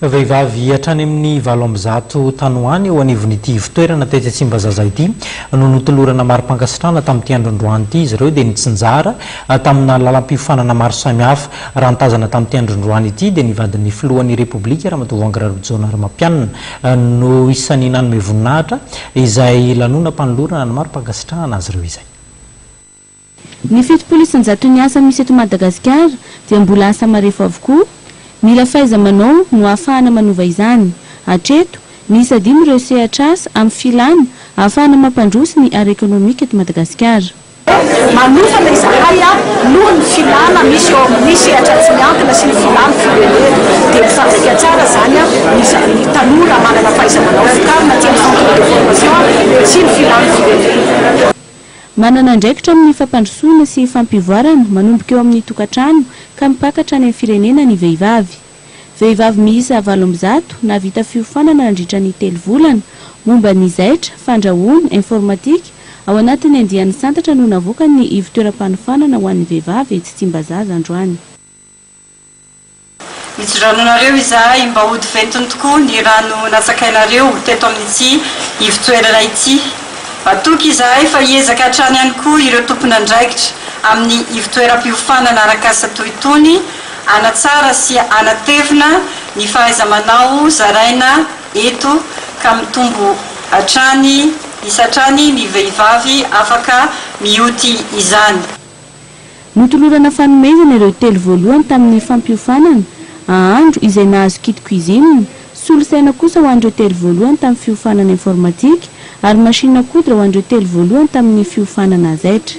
Vehivavy hatrany amin'ny valo amby zato tany ho any eo anivon'ity ivotoerana tetsy Tsimbazaza ity no notolorana mari-pankasitrahana tamin'ity androandroany ity. Izy ireo dia nitsinjara tamina lalam-piofanana maro samihafa. Raha ny tazana tamin'ity androandroany ity dia ny vadin'ny filohan'ny Repoblika, Ramatoa Voangy Raribjaonariamampianina no isan'ny nanome voninahitra izay lanonam-panolorana ny mari-pankasitrahana azy ireo izay. Ny fitopolo isan-jaton'ny asa misy eto Madagasikara dia mbola asa marefo avokoa. Mila fahaiza-manao no ahafahana manova izany. Hatreto, miisa dimy ireo sehatr'asa amin'ny filàna ahafahana mampandroso ny ara ekonomika eto Madagasikara. Manofa ilay izahay noho ny filàna misy eo amin'ny sehatra tsy miankina sy ny filàn'ny firenena. Dia mifandraika tsara izany ny tanora manana fahaiza-manao vokarina tsy amin'ny centre de formation sy ny filàn'ny firenena. Manana andraikitra amin'ny fampandrosoana sy fampivoarana manomboka eo amin'ny tokantrano ka mipaka hatrany amin'ny firenena ny vehivavy. Vehivavy miisa valo amby zato nahavita fiofanana nandritra ny telo volana momba ny zaitra, fandrahoana, informatika, ao anatin'ny andiany santatra no navoakan'ny ivo toeram-panofanana ho an'ny vehivavy etsy Tsimbazaza androany. Hijoranonareo izahay mba hody ventiny tokoa ny rano natsakainareo teto amin'ity ivon-toerana ity. Matoky izahay fa hiezaka hatrany ihany koa ireo tompon'andraikitra amin'ny ivon-toeram-piofanana arak'asa toy itony hanatsara sy hanatevina ny fahaiza-manao zaraina eto ka mitombo hatrany isa hatrany ny vehivavy afaka mioty izany. Notolorana fanomezana ireo telo voalohany tamin'ny fampiofanana, ahandro izay nahazo kit cuisine, solosaina kosa ho an'ireo telo voalohany tamin'ny fiofanana informatika ary machine à coudre ho an'ireo telo voalohany tamin'ny fiofanana zaitra.